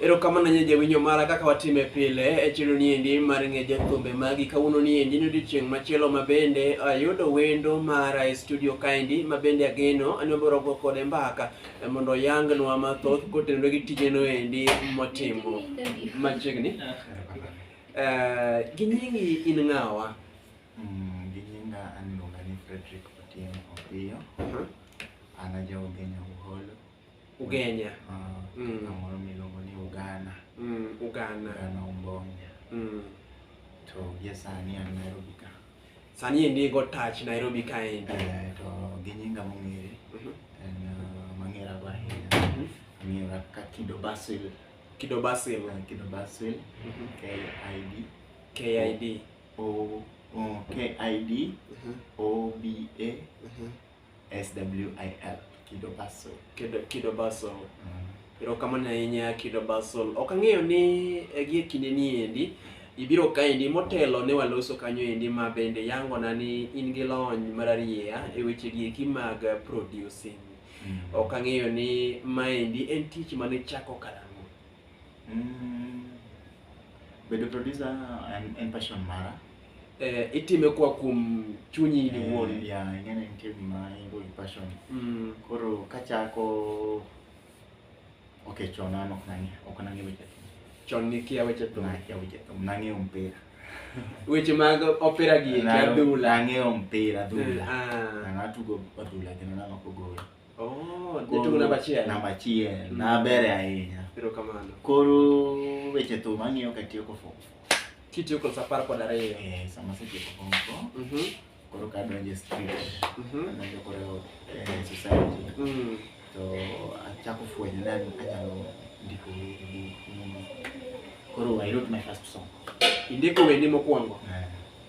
Erokamano nyinyi jawinjo mara kaka watime pile e chiro ni endi mar ng'e jathumbe magi kawuono ni endi ni odiochieng' machielo ma bende ayudo wendo mara e studio kaendi ma bende ageno ni wabiro go kode mbaka eh, mondo oyangnwa mathoth kotenore gi tijeno endi motimo machiegni. Eh, gi nyingi in ng'awa? Mm, gi nyinga an iluonga ni Frederick Otieno Opiyo. An ajaoge Nyauholo. Ugenya. Ah, Mm. kamoro miluongo ni Ugana. Mm, Uganda. Ugana Umbonge. Mm. To gie sani an Nairobi ka. Sani endi go touch Nairobi kaendi. Eh, to gi nyinga mong'ere Mhm. en ah, mang'era go ahinya. Mhm. Ang'era ka Kido Basil. Kido Basil. Eh, Kido Basil. Mhm. KID. KID. O o- KID Mhm. OBA Mhm. SWIL Kido Basel. Kido, Kido Basel. Erokamano ahinya Kido Basel. Ok ang'eyo ni eh, gie kinde ni endi ibiro kaendi motelo ne waloso kanyo endi ma bende yangona ni in gi lony mararieya e weche gieki mag eh, producing. Ok ang'eyo ni maendi en tich mane chako karang'o. Mm, bedo producer en, en passion mara eh, itime kwa kuom chunyi in iwuon Eh, ya ing'e ni nitie gima ingo gi passion Mm, koro kachako ok chon an ok nang'e ok nang'e weche thum chon nikia weche thum nakia weche thum nang'eyo mpira weche mag opira gi eki adhula nang'eyo mpira adhula Ah. na natugo adhula kendo namako gol Oh, Jatungu namba achiel. namba achiel Mm. na bere ahinya Erokamano. koro weche thum ang'iyo katiyo ko form four. Kitiyo kod apar kod ariyo. Eh, sama asetieko form four, Mhm. koro kadonje street Mhm. adonjo koro eh, society Mm. to achako fwenyo na anyalo ndiko wende gi nyimbo. koro i wrote my first song Indiko wendi mokwongo. Eh,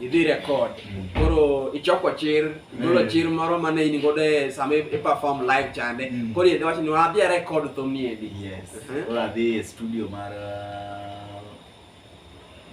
idhi record koro ichoko chir igolo Mm. chir moro mane in godo e sama i- i-perform live chande Mm. koro idhi wacho ni wadhi a record thum ni endi Yes. Mhm. Koro adhi e studio mar uh,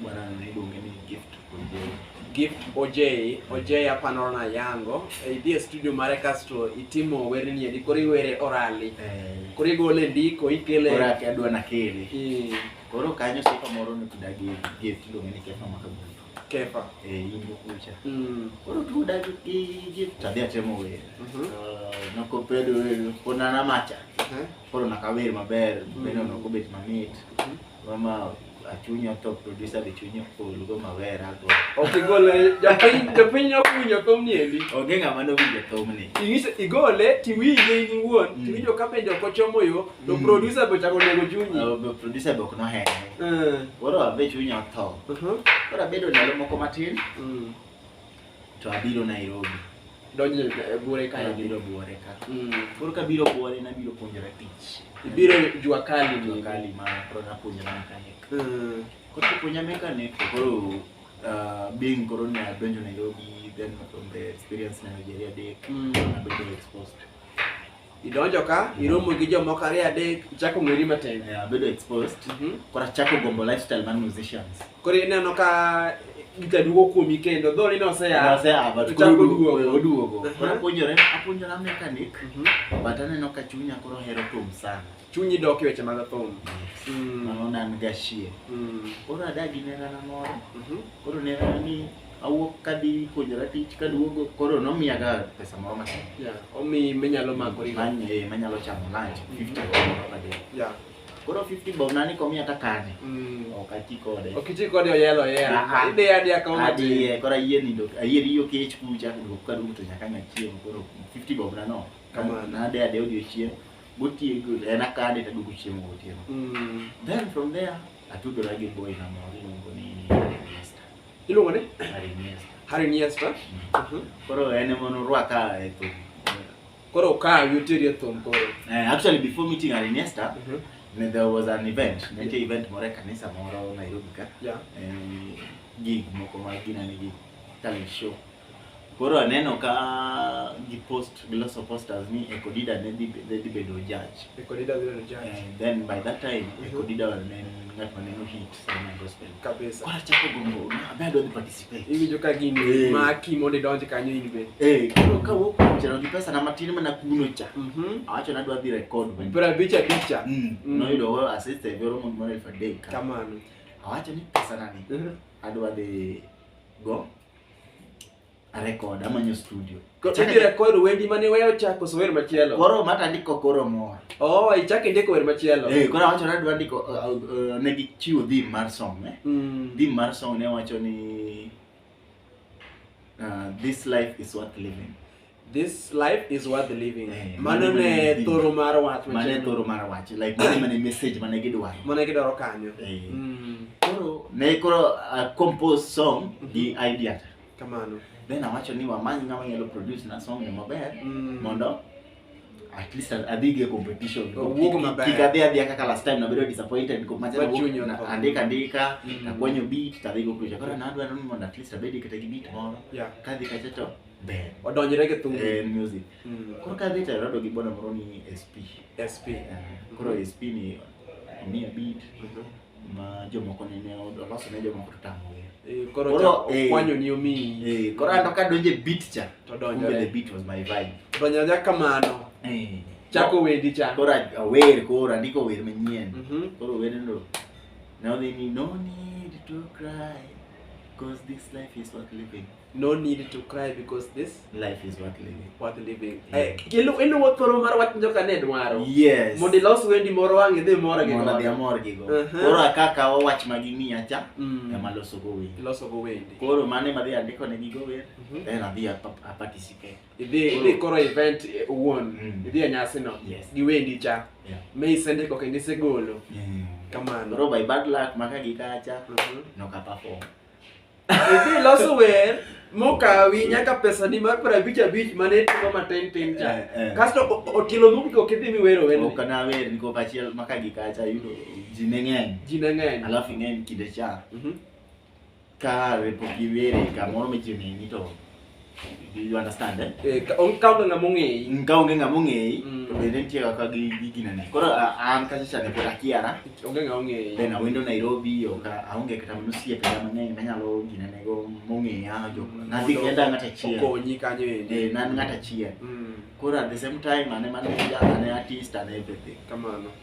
bwana niluonge ni Gift Ojei. gift ojei ojei apanoro na yango E, idhi e studio mare kasto itimo werne ni endi koro iwere orali Eh, koro igole ndiko ikele koro adwa nakele. Mm. Koro kanyo sifa moro ne kidagi gi kiluongo ni kefa maka gudu. Kefa. Eh, yimbo kucha. Mm. Koro tu dagi gi gi tadi atemo wer. Mm -hmm. Uh, noko pedo wer kona na macha. Mm -hmm. Koro nakawer maber, mm -hmm. beno noko bet mamit. Mm -hmm. Mama achunyo to producer be chunyo full go mawer ago. Okay, gole japiny japiny ok winjo thum ni endi. Onge ng'ama nowinjo thum ni. Ingise igole tiwinje in iwuon, mm. tiwinjo ka bende ok ochomo yo To mm. producer be chako nego chunyi. Uh, be producer be ok nohere. Uh. Koro abe chunya otho. Uh -huh. Koro abedo ndalo moko matin. Mm. To abiro Nairobi. Donjo e buore ka abiro buore ka. Mm. Koro ka biro buore na biro puonjore tich. Ibiro jua kali ni jua kali ma koro na puonjore mechanic. Mm. Koro puonja mechanic koro uh, being koro na donjo Nairobi then from the experience na Nigeria day. Mm. Na be exposed. idonjo ka iromo gi jomoko ariyo adek ichako ng'eri matin Eh, abedo exposed Mhm. koro achako gombo lifestyle mar musicians koro ineno ka gita duogo kuomi kendo dho ni noseya Ose, ah, but Ichako koro odu- duogo. eh, oduogo Aha. koro apuonjore apuonjora mechanic Mhm. but aneno ka chunya koro hero thum sana chunyi dok e weche mag thum Mm, mano nan gashie mm, koro adagi nerana moro mhm. koro nerana ni awuok kadhi puonjora tich kaduogo koro nomiyaga pesa moro matin Yeah, omi minyalo makori go. Man- eh, manyalo chamo lunch 50 bob moro ka day. Yeah. koro 50 bob nani komiya takane Mm. ok ati kode Ok iti kode oyelo yela. Ah, ah. Ide adi akawo matin. adiye koro ayie nindo ayie riyo kech kucha duok kaduogo to nyaka nya chiemo koro 50 bob nano Kamano. nade ade odiochieng' gotieko en akade taduogo chiemo gotieno Mm. then from there atudora gi boy na moro iluongo ni Iluongo ni? Harry Niesta. Harry Niesta. Mm. Mhm. Koro en ema norwaka e thum. Koro ka yutiri e thum koro. Eh, actually before meeting Harry Niesta, mm -hmm. there was an event, nitie yeah. event moro e kanisa moro Nairobi ka. Yeah. Eh, gig moko ma ginani gig talent show. Koro aneno ka gi post giloso posters ni Ekodida ne dhi ne dhi bedo judge. Ekodida dhi bedo judge. Eh, then by that time mm -hmm. Ekodida ne ng'at ma neno hit sana gospel. Kabisa. Kwa chako gombo na bado ni participate. Hivi joka gini hey. Eh. ma kimo de donje kanyo in be. Eh, koro ka wo kwa chero gi pesa na matini mana kuno cha. Mhm. Mm Awacho na dwa dhi record. Bra bicha bicha. Mm. Mm. Mm-hmm. No yudo ho assist e goro mon mare for day. Kamano. Awacho ni pesa nani. Mm -hmm. Adwa de go. arekod amanyo studio Idhi record wendi mane wewe ochako so wer machielo. koro mata ndiko koro mor Oh, ichak indiko wer machielo. eh koro awacho ni adwa ndiko uh, uh, ne gichiwo theme mar song eh Mm. theme mar song ne wacho ni uh, this life is worth living this life is worth living eh, mano ne thoro mar wach mane thoro mar wach like mane mane message mane gidwaro mane gidwaro kanyo eh. mm. koro ne koro uh, compose song mhm. gi idea kamano then awacho ni wamany ng'ama nyalo produce na song e maber mm. mondo at least adhige competition kik adhi adhia kaka last time nabedo disappointed andika andika mm. nakwanyo beat tadhigo kucha koro nadwaro ni mondo at least abedi kata gi beat moro kadhi kacha to Ber. Odonjre gi thum. Eh, music. Mm. Koro ka dhi tero gi bono moro ni SP. SP. Eh, koro SP ni omiya beat. Mhm. Ma jomoko ne ne oloso ne jomoko to tamo wer. Eh, koro Koro, cha- eh. okwanyo ni omiyi. Eh, koro anto ka donje beat cha. To Kumbe the donjore. beat was my vibe. Donjore kamano. Eh. Chako wendi cha. Koro a- awer koro andiko wer manyien. Mhm. Koro wendno now they need no need to cry cause this life is worth living. no need to cry because this life is worth living worth living eh kelu elu wo thoro mar wach joka ne dwaro yes mondo ilos wendi moro wangi dhi moro gi moro dhi moro gi go uh-huh. koro akaka wo wach ma gini acha mm. ema loso go wendi loso go wendi koro mane ma dhi andiko ne gigo wer mm-hmm. then adhi a participate idhi idhi koro event eh, won mm. idhi a nyasi no gi wendi cha me isende ko kendo isegolo kamano koro by bad luck maka gi kacha mm-hmm. no ka perform Idhi loso wer mokawi nyaka pesa ni mar para abich abich mane timo matin tin cha. Eh, eh. Kasto o- o- otielo mogik ok idhi miwero wer. ok nawer niko kachiel maka gi kacha yudo ji ne ng'eny Ji ne ng'eny. alafu ing'eny kinde cha Mhm. ka repok iwere kamoro michiegni ni to You understand eh? Eh, ka on kaunga ngamo ngei. Ngaonge ngamo ngei. Mm. To bende nitie kaka gi gi gina ne. Koro a- an kaka chane pod akiara. Onge ngamo ngei. Then awendo Nairobi oka aonge kata mano siepe ga mang'eny manyalo gina ne go mong'eya jo. Nadhi kenda ng'ata achiel. Okonyi kanyo endi. Eh, nan ng'ata achiel. Mm. Koro at the same time ane mane ane artist ane everything. Kamano.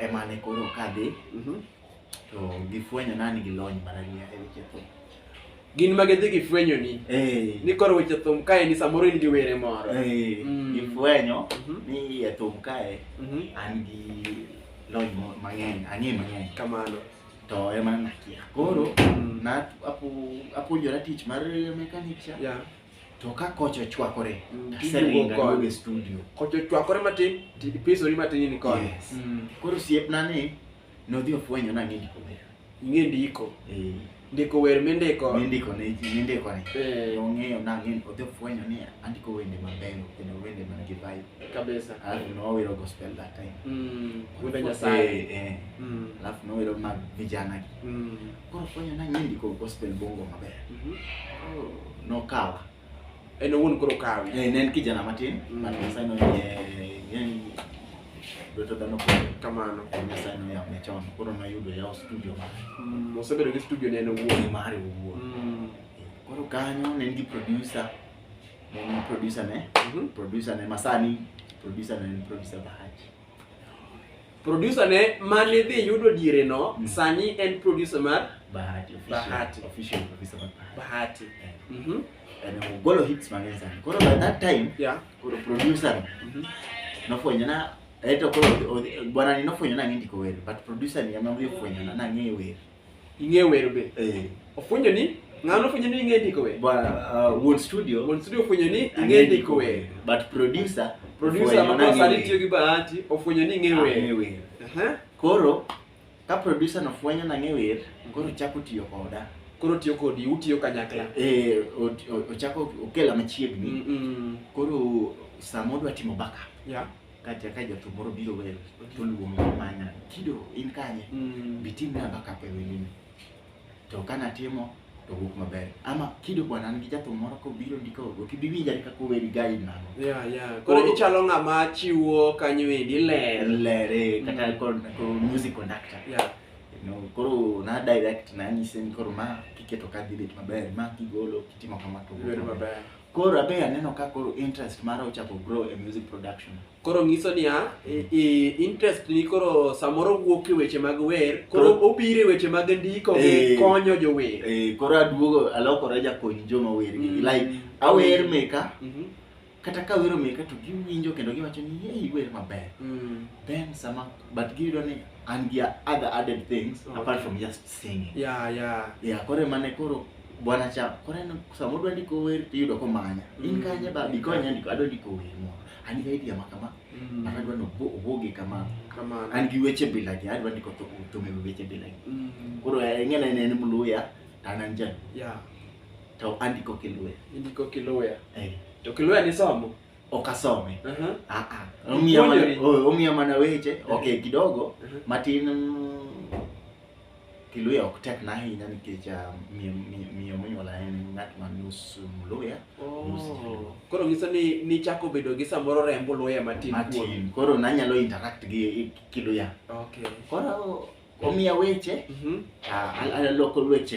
emane koro kadhi Mhm. to gifwenyo nani gi lony marahia e weche thum Gin ma gidhi gifwenyoni Eh, ni koro weche thum kae ni samoro in gi were moro. eh, Mm. gifwenyo Mhm. ni e thum kae Mhm. an gi lony mo- mang'eny ang'e mang'eny Kamano. to ema nakia koro Mm. na apu- apuonjora tich mar mechanic cha Yeah. To ka kocha ochwakore, Mm, to tiduogo aseringo kode. aduogo e studio. Kocha ochwakore matin, ti- ipisori matin in kode. Yes. Mm. Koro osiepna ni nodhi ofwenyo ni ang'e ndiko wer. Ing'e ndiko. Eh, Ndiko wer mindiko. mindiko ne ji, mindiko ne. Eh, Ong'eyo ni ang'e, odhi ofwenyo ni andiko wende mabeyo kendo wende man gi vibe. kabisa. Alafu nowero gospel that time. Mm. Wende Nyasaye. Eh, eh. Mm. Alafu nowero mag vijana gi. Mm. Koro fwenyo na ng'endi ko gospel bongo maber. Mhm. Koro nokawa. En owuon koro kawi. Eh, ne en kijana matin, Mm. but Nyasaye noyie yani lweto dhano koro Kamano. en Nyasaye noyawne chon. Koro noyudo yawo studio mare. Mm, osebedo gi studio ne en Wuon owuon. mare owuon. Mm. Koro kanyo ne en gi producer. Ne en producer ne, Mhm. producer ne masani, producer ne en producer Bahati. Producer ne mane dhi yudo diere no mm. sani en producer mar Bahati Bahati official producer mar Bahati. Yeah. Mm -hmm. And we go to hits mang'eny sana. Koro by that time, yeah, koro producer mm -hmm. nofwenyo na eto koro bwana ni nofwenyo na ng'endi ko wer, but producer ni ema nofwenyo na ng'eyo wer. ing'e wer be eh. ofwenyo ni ng'ano ofwenyo ni ing'e ndiko wer bwana uh, Won Studio Won Studio ofwenyo ni ing'e ndiko wer but producer producer ma sani tiyo gi bahati ofwenyo ni ing'e wer koro ka producer no fwenyo na ng'e wer koro chako tiyo koda koro tiyo kodi utiyo kanyakla eh ochako okela machiegni mm -mm. koro sama odwa timo backup yeah kata ka jathum moro biro wer to luongo mana kido in kanye Mm. bitim na backup e wendini to ka natimo to wuok maber ama kido bwana an gi jathum moro kobiro ndiko ok ibi winja ni kaka oweri guide nano Yeah, yeah. Koro Koro- ichalo ng'ama chiwo kanyo endi ler. lere kata Mm. kon- ko music conductor Yeah. you know, koro na direct nanyise ni koro ma kiketo kadhi bet maber ma kigolo kitimo kama to wuok Ler maber. maber. Koro abe aneno ka koro interest mara ochako grow e music production. Koro nyiso niya, i- i- interest ni koro samoro wuok e weche mag wer, koro Koro- obiro e weche mag ndiko gi Eh. konyo jower. Eh, koro aduogo alokora jakony joma wer gi. Mm. Like awer meka Mhm. kata ka wero meka to giwinjo kendo giwacho ni hey iwer maber. Mm. Then sama but giyudo ni an gi other added things Okay. apart from just singing. Yeah, yeah. Yeah, koro mane koro Bwana Cham, koro en sama odwa ndiko wer to iyudo komanya. In kanye ba bikonya ndiko adwa ndiko wer moro. An gi idea ma kama. Mm. An adwa no oboge kama. Kamano. An gi weche bila gi adwa ndiko to to me weche bila gi. Mm. Koro eh, ng'ena en en mluya to an an jaluo Yeah. to andiko kiluya. Indiko kiluya. Eh, To kiluya ni somo. ok asome. Aha. Ah ah. Omiya mana Puonjori. oh, omiya mana weche. Okay, kidogo Mhm. matin mm, Kiluya ok tekna ahinya nikech ah, miyo- miyo- miyo monyuola en ng'at ma nus Mluya, nus Jaluo. Koro nyiso ni nichako bedo gi samoro rembo luya matin kuomi. Matin. Koro nanyalo interact gi i- Kiluya. Okay. Koro omiya weche, Mhm. ah, al- aloko weche.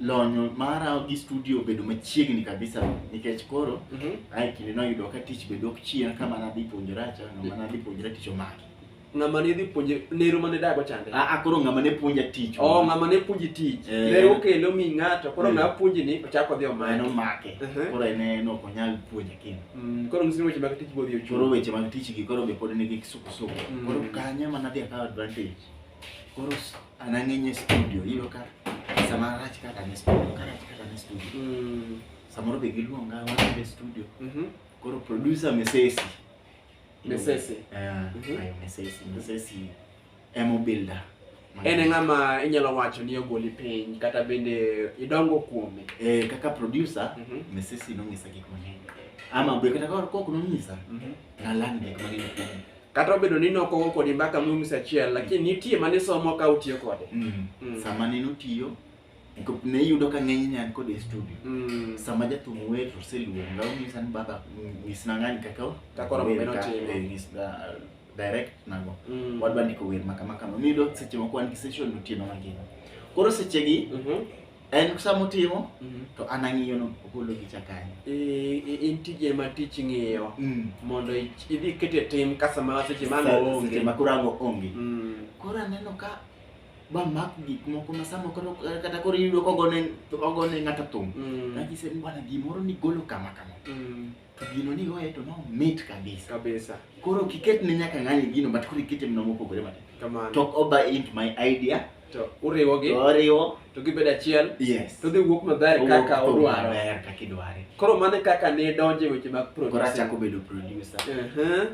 lonyo mara gi studio obedo machiegni kabisa nikech koro Mhm. ae kinde noyudo ka tich bedo ok chien kama nadhi puonjora cha ng'ama nadhi puonjora tich omaki Ng'ama ne dhi puonje nero mane dago chande. a a koro ng'ama ne puonja tich Oh, ng'ama ne puonji tich. Eh. Ne okelo mi ng'ato, koro Mm. ng'a puonji ni ochako dhi ma en omanye. omake Mhm. koro en en ok onyal puonja kendo Mm, Koro ng'isi ni weche mag tich bodhi koro ochuro. weche mag tich gi koro be pod nigi kisukusuku Mm. koro kanyo ema nadhi akawo advantage koro s- Anang'enye studio ilo ka sama rach kaka ne studio ka rach kaka ne studio. Mm. Samoro be giluonga wan be studio. Mhm. Koro producer Mesesi. Mesesi. Ah, Mhm. ayo Mesesi, Mesesi emo builder. En e ng'ama inyalo wacho ni ogoli piny kata bende idongo kuome. Eh, kaka producer Mhm. Mesesi nong'isa gik mang'eny. Ama be kata koro kok nong'isa Mhm. nalan gik mang'eny kuome. kata obedo ni nokogo kodi mbaka mumis achiel lakini nitie mane somo ka utiyo kode mm. mm. sama nene utiyo ne iyudo ka ng'eny ne an kode e studio mm. sama jathum wer to oseluonga onyisa ni baba nyisna ng'ani kaka uh, direct nago mm. wadwa ndiko wer maka maka miyudo seche moko wan gi session otieno mangima koro sechegi mm -hmm. en sama otimo mhm. to an ang'iyono ogolo gicha kanyo in tije ma tich ng'iyo mm. mondo idhi kete tim ka sama seche maonge ma koro ango onge mm. koro aneno ka ba mak gik moko ma sama koro kata koro iyudo kogone ng'ato thum mm. kagise ni bwana gimoro ni golo kama kama to gino ni igoye to nomit kabisa kabisa koro kiket ne nyaka ng'ani gino but koro ikete mna mopogore matin kamano talk over into my idea to uriwogi to oriwo to gibedo achiel yes to dhi wuok maber Owuok kaka thum odwaro maber kaka idware koro mano e kaka ne donje weche mag koro producer achako bedo producer Ehe.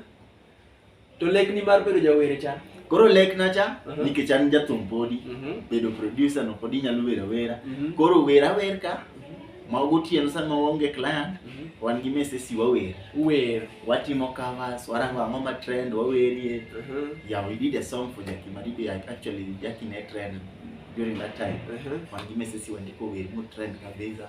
To lekni mar bedo jawer cha. Koro lekna cha uh -huh. nikech an jathum podi uh mhm. -huh. bedo producer no podi nyalo wera wera. Uh mhm. -huh. Koro wera wer ka mhm. ma gotieno sama waonge client uh -huh. wan gi mesesi wawer. Wer. Watimo covers, warango ang'o ma trend wawerie. Uh -huh. Yeah, we did a song for Jackie Madibe actually Jackie ne trend during that time. Uh -huh. Wan gi mesesi wandiko wer mo trend kabisa.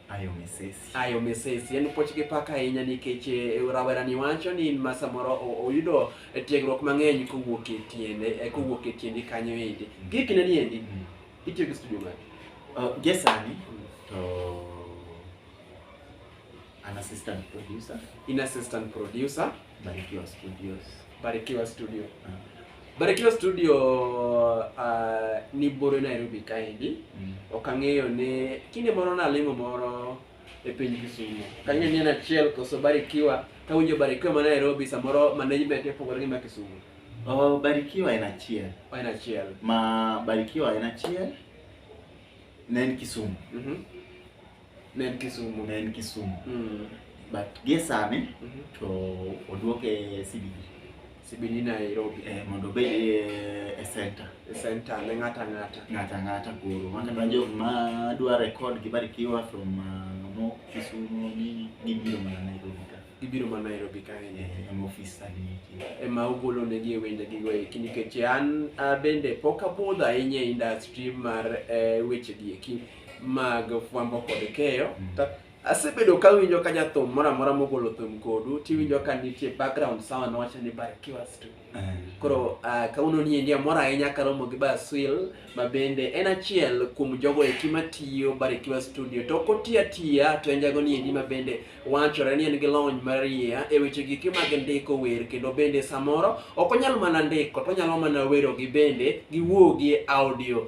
Ayo mesesi. Ayo mesesi en puoch gi pak ahinya nikech eh, rawerani wacho ni ma samoro o- oyudo eh, tiegruok mang'eny kowuok e tiende eh, kowuok e tiendi kanyo endi. Mm. Gie kindeni endi Mm. itiyo gi studio mane? Uh, gie sani to an assistant producer In assistant producer Barikiwa Studios. Barikiwa Studio. Ah. Barikiwa Studio uh, ni bore Nairobi kaendi. Mm. Ok ang'eyo ni kinde moro nalimo moro e piny Kisumu. Ok ang'eyo ni en achiel koso Barikiwa. Kawinjo Barikiwa ma Nairobi samoro management e pogore gi ma Kisumu. Oh, Barikiwa en achiel. Oh, en achiel. Ma Barikiwa en achiel ne en Kisumu. Mm -hmm. Ne en Kisumu. ne en Kisumu Mm. but gie sani Mhm. to oduoke CBD Sibini Nairobi. eh, mondo obed eh, e center E center ne ng'ata ng'ata. ng'ata ng'ata koro makata jok ma dwa record gi Barikiwa from uh, mo Kisumu nini gibiro mana Nairobi ka Ibiro ma Nairobi kae. eh, em office sani nitie ema ogolo negi e wendegi go eki nikech an ah, bende pok abudho ahinya e industry mar eh, wechegi eki mag fwambo kod keyo mm. asebedo ka winjo ka jathum moro amora mogolo thum kodu tiwinjo ka nitie background sound wacho ni Barikiwa Studio. Eh. Koro uh, kawuono ni endi amor ahinya karomo gi Baswil ma bende en achiel kuom jogo eki matiyo Barikiwa Studio to ok otiyo atiya to en jago ni endi ma bende wachore ni en gi lony mariya e weche gike mag ndiko wer kendo bende samoro ok onyal mana ndiko to onyalo mana werogi bende giwuogi e audio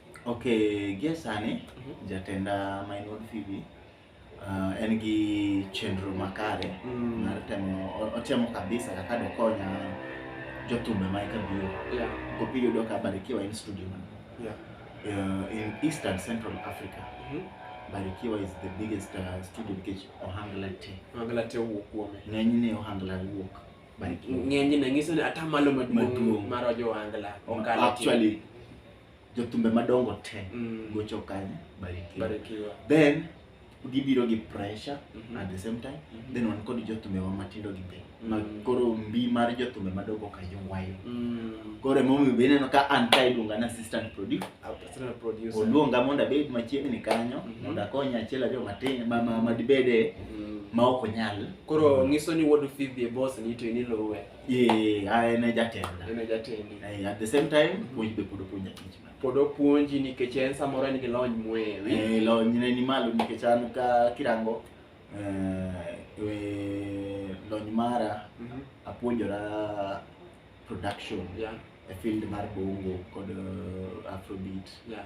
Ok, gie sani Mhm. jatenda ma en wuod Phoebe ah, en gi chenro makare Mm. mar temo o- otemo kabisa kaka dokonya jothumbe ma eka biro Yeah. kopi yudo ka Barikiwa en studio man Yeah. uh, in East and Central Africa Mhm. Barikiwa is the biggest uh, studio nikech ohangla te Mangala te owuok kuome. ng'enyne ohangla wuok Barikiwa ng'enyne nyiso ni atamalo maduong' Maduong'. mar ojo wangla okalo actually jothumbe madongo te Mm. gocho kanye barikiwa Barikiwa. then gibiro gi pressure Mhm. at the same time Mhm. then wan kod jothumbewa matindo gi be ma Mm. koro mbi mar jothumbe madongo ka ywayo Mm. koro emomiyo be ineno ka an ka iluonga na assistant producer Assistant producer. oluonga mondo abed machiegni kanyo Mhm. mondo akony achiel ariyo matin ma- ma- madibede Mm. ma ok onyal Koro ngiso ni wuod Phoebe e boss ni to inilowe. Eh, ah, en e jatenda. En e jatendi. Eh, at the same time, mhm. puonj be pod opuonja tich ma. Pod opuonji nikech en samoro en gi lony mwewi. Eh, lony ne ni malo nikech an ka kirango eh, eh lony mara mm -hmm. apuonjora production yeah. e field mar bongo kod uh, afrobeat yeah.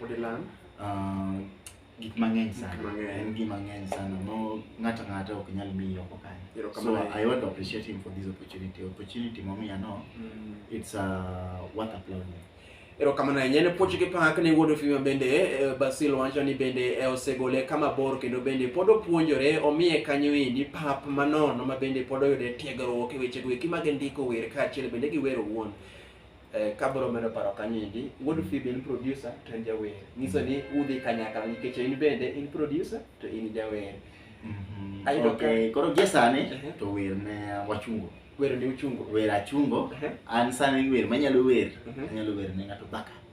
Pod ilang'? Ah, gik mang'eny Gik sana mang'eny. en gima ng'eny sana mo ng'ato ng'ato ok nyal miyi oko kanyo so Erokamano ahinya. i want to appreciate him for this opportunity opportunity momiya no Mm. it's uh, worth applauding erokamano ahinya ne puoch gi pak ne wuod ofima bende eh, basil wacho ni bende eh, osegole kama bor kendo bende pod opuonjore omiye kanyo endi pap manono ma bende pod oyude tiegruok e wechego eki mag ndiko wer kaachiel bende gi wer owuon Eh, kabro medo paro kanyindi wuod fibi en producer to en jawer nyiso ni udhi kanyakla nikech in bende in producer to in jawer mhm. ayudo okay. koro gie sani uh -huh. to wer ne wachungo wer ne uchungo wer achungo uh -huh. an sani wer manyalo wer uh mhm. -huh. anyalo wer ne ng'ato baka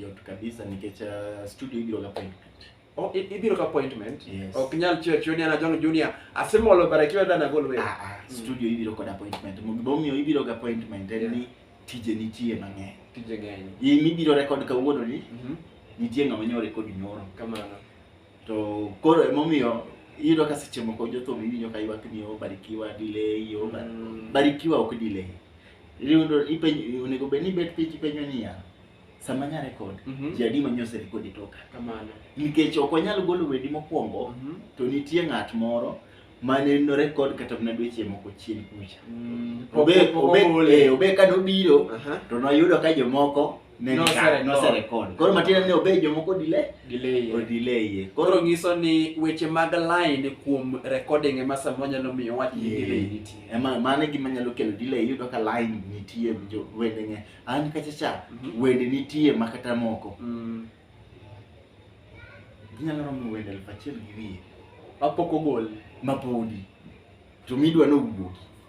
Yot kabisa nikech uh, studio ibiro ga point. Oh, i- ibiro ka appointment. Yes. Ok nyal chiyo chiyo ni ana John Junior. Asemolo barakiwa dana gol wewe. Ah, ah, Mm. studio ibiro kod appointment. Momiyo ibiro ga appointment en Yeah. ni tije nitie mang'eny. Tije ng'eny. Iyi mibiro record kawuono ni Mhm. nitie ng'ama nyo record nyoro. Kamano. To koro emomiyo iyudo ka seche moko jothum iwinjo ka ywak ni obarikiwa delay o Mm. barikiwa ok delay. Iyudo ipenjo onego bed ni bet piny ipenjo niya sama nya record mm -hmm. jadi manyo ose record itoka kamano nikech ok wanyal golo wedi mokwongo mm -hmm. to nitie ng'at moro mane no record kata mana dweche moko chien kucha mm, obe obe eh, obe ka nobiro uh -huh. to noyudo ka jomoko noserekod koro matiende ni obe jomoko dile odileye koro nyiso ni weche mag line kuom recording ema samoro nyalo miyo wach ni delay nitie ema mano e gima nyalo kelo delay iyudo ka line nitie wendene an kacha cha Mhm. wende nitie ma kata moko Mm. ginyalo romo wende elfu achiel gi wiye Mapok ogol. mapodi to midwa nowuogi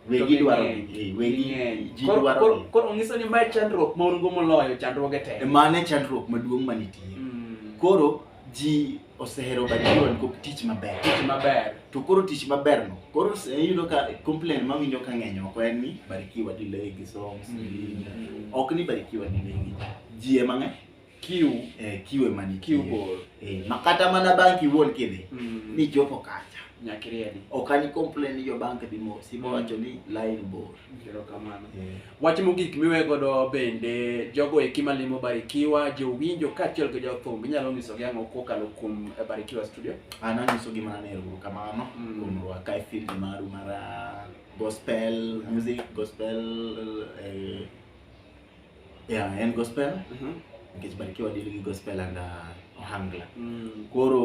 To wegi ging'eny. dwaro eh, wegi Ging'eny. ji Koro- dwaro koro- Koro onyiso ni mae chandruok ma un go moloyo chandruoge te. mane chandruok maduong' manitie Mm. koro ji osehero batiwa nikop tich maber tich maber to koro tich maberno koro se- iyudo ka complain mawinjo ka ng'eny oko en ni barikiwa delay gi songs ok ni barikiwa delay gi ji ema ng'e kiu eh, kiwe mani kiu bor eh, makata mana bank iwuon kidhi Mm. ni jopo kacha nyakiriedi ok ani complain ni jo bank dhi mos ibo wacho ni line bor Erokamano. Eh. Wach mogik miwe godo bende jogo eki malimo Barikiwa, jowinjo kaachiel gi jothum inyalo nyisogi ang'o kokalo kuom eh, Barikiwa Studio? An anyisogi mana ni erokamano Mm. kuom rwaka e field maru mar ah, gospel music, gospel eh, Yeah, en gospel. Mhm. Nikech Barikiwa deal gi gospel and uh, ohangla. Mm. Koro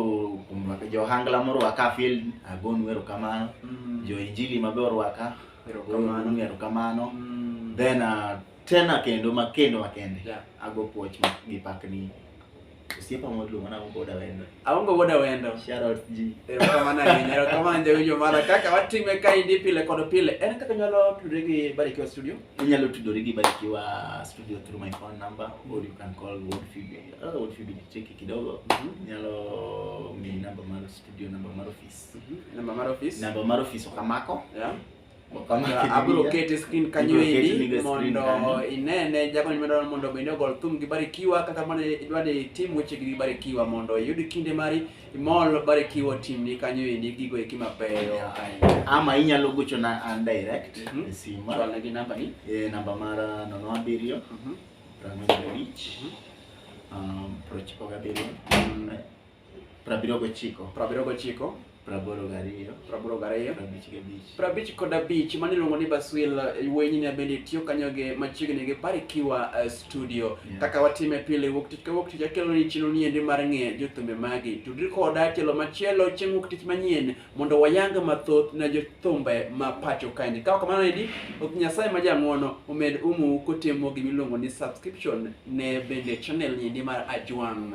kuom rwaka- jo ohangla morwaka field agonu erokamano. Mm. Jo injili mabe orwaka Erokamano. agonu erokamano. Mm. Then uh, tena kendo makendo makende Yeah. ago puoch ma- gi pakni Osiepa moluongo na Aongo Boda Wendo. Aongo Boda Wendo. Shout out ji. Erokamano ahinya, erokamano jawinjo mara kaka watime kaendi pile kod pile. En kaka nyalo tudore gi Barikiwa Studio? Inyalo tudore gi Barikiwa Studio through my phone number or you can call World Feed. Uh, ah, World Feed nicheki kidogo. Mm -hmm. Nyalo mi namba mar studio, namba mar office. Mm -hmm. Namba mar office. Namba mar office okamako. Yeah. abiro kete screen kanyo endi mondo inene jago nimedo mondo bende ogol thum gi Barikiwa kata mana idwa ni tim weche gi Barikiwa mondo iyud kinde mari imol Barikiwa tim ni kanyo endi gigo eki mabeyo ama inyalo gocho na an direct mm -hmm. e sima chwal gi namba ni e namba mara nono abiriyo mm -hmm. prang'wen abich mm -hmm. um, prochiko gabiriyo mm -hmm. Prabiriyo gochiko. Prabiriyo gochiko. Praboro gariyo. Praboro gariyo. Prabich gabich. Prabich kod abich mane iluongo ni Baswil Weyni ne bende tiyo kanyo gi machiegni gi Barikiwa eh, Studio. Yeah. Kaka watime pile wuok tich ka wuok tich akelo ni chino ni endi mar ng'e jothumbe magi. Tudri koda tielo machielo chieng' wuok tich manyien mondo wayang mathoth ne jothumbe ma pacho kaendi. Ka kamano endi ok Nyasaye ma jang'wono omed umu kotimo gimiluongo ni subscription ne bende channel ni endi mar Ajwang'.